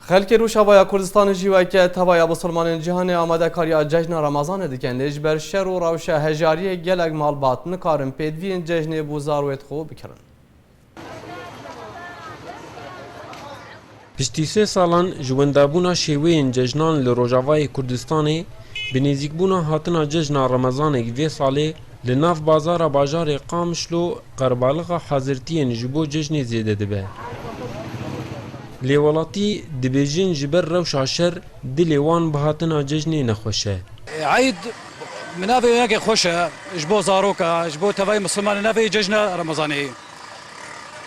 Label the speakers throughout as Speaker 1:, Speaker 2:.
Speaker 1: Xelkê Rojavaya Kurdistanê jî weke tevaya Musulmanên cîhanê amadekariya cejna Ramazanê dikin lê ji ber şer û rewşa hejariyê gelek malbat nikarin pêdiviyên cejnê bû zarwêt xwe bikirin. Piştî sê salan ji wendabûna şêweyên cejnan li Rojavayê Kurdistanê, bi nêzîkbûna hatina cejna Ramazanê vê salê, Li nav bazara bajarê Qamişlo qerbalixa hazirtiyên ji bo cejnê zêde dibe. Lê welatî dibêjin ji ber rewşa şer dilê wan bi hatina cejnê nexweş e. Eîd bi navê yekê xweş e ji bo zarok e, ji bo tevayê misilman e navê cejna Remezanê ye.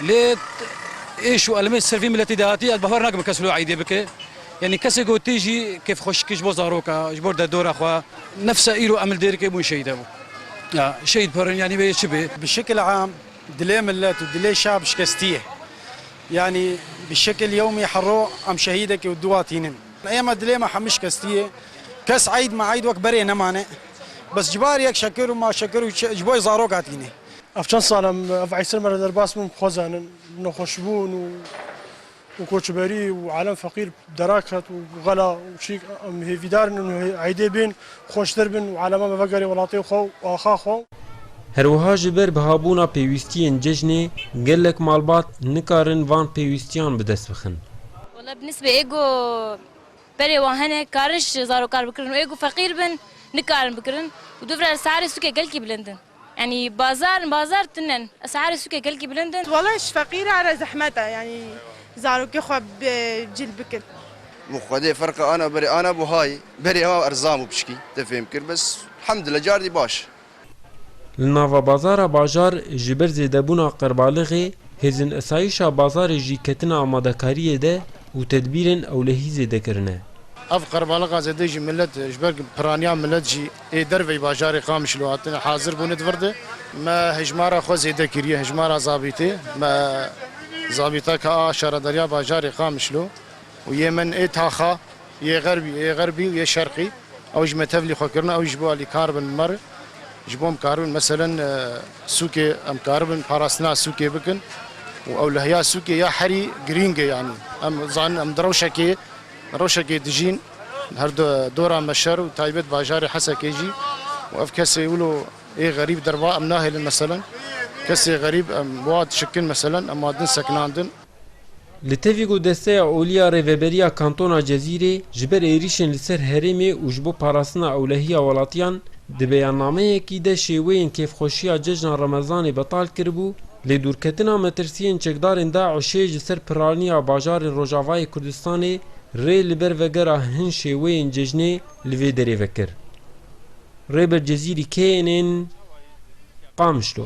Speaker 1: Lê êş û elmê ser vî miletî de hatî ez bawer nakim kes li Eîdê bike. Yanî kesê ku tê jî kêfxweşikî ji bo zarok e, ji bo derdora xwe. Nefsa îro em li Dêrikê bûn şehîd hebû. Ya şehîd pir in yanî wê yê çi bê. Bi şekil am dilê milet û dilê şab şikestî ye. Yanî bi şekil yewmî hero em şehîdekê û duwa tînin. Êma dilê me hemû şikestî ye. Kes eyd meyd wek berê nemane. Bes ji bar yek şekir û maşekir û ji bo zarok hatîne. Ev çend sal e ev eysel me re derbas bûn bi xwe zanin. Nexweşbûn û. û koçberî û alem feqîr dera ket û xela û çîk em hêvîdar in û eydê bên xweştir bin û aleman bi vegerê welatê xwe û axa xwe. Herwiha ji ber bihabûna pêwîstiyên cejnê gelek malbat nikarin van pêwîstiyan bi dest bixin. Wela bi nisbê ê ku berê wan hene karin ji zarokar bikirin û ê ku feqîr bin nikarin bikirin û dûvira li Seharê sûkê gelkî bilind in. Yanî bazar bazar tune in. Esarê sûkê gelkî bilind in. Wala ji feqîran re zehmet e yanî zarokê xwe bi cil bikin. Min xwedê ferqa ana berê ana buhayê berê hewa erzan bû pişkî te fêm kir bes elhamdulillah cardî baş e. Li nava bazara bajar ji ber zêdebûna qerbalighê hêzin esayîşa bazarê jî ketine amadekariyê de û tedbîrên ewlehî zêde kirine. Ev qerbaliga zêde jî milet ji ber piraniya milet jî Ê derveyî bajarê Qamişlo hatine hazirbûnê di vir de me hejmara xwe zêde kiriye, hejmara zabîtê me zabîteke a şaredariya bajarê Qamişlo û yê min ê taxa yê xerbî yê xerbî û yê şerqî ew ji me tevlî xwe kirine ew jî ji bo alî kar bin bi me re ji bo em karibin meselen sûkê em karibin parastina sûkê bikin û ewlehiya sûkê ya herî girîng e yanî em dizanin em di rewşekê Rewşekê dijîn li her du dora Meşer û taybet bajarê Hesekê jî û ev kesê wilo ê xerîb derva em nahêlin meselen kesê xerîb em wa dişikin meselen em wa din sekinandin. Li tevî ku Desteya Olî ya Rêveberiya Kantona Cezîrê ji ber êrîşên li ser herêmê û ji bo parastina ewlehiya welatiyan di beyannameyekî de şêweyên kêfxweşiya cejna Remezanê betal kiribû, Lê dûrketina metirsiyên çekdarên DAIŞ'ê ji ser piraniya bajarên Rojavayê Kurdistanê rê li ber vegera hin şêweyên cejnê li vê derê vekir. Rêber Cezîrî kê yên ên Qamişlo?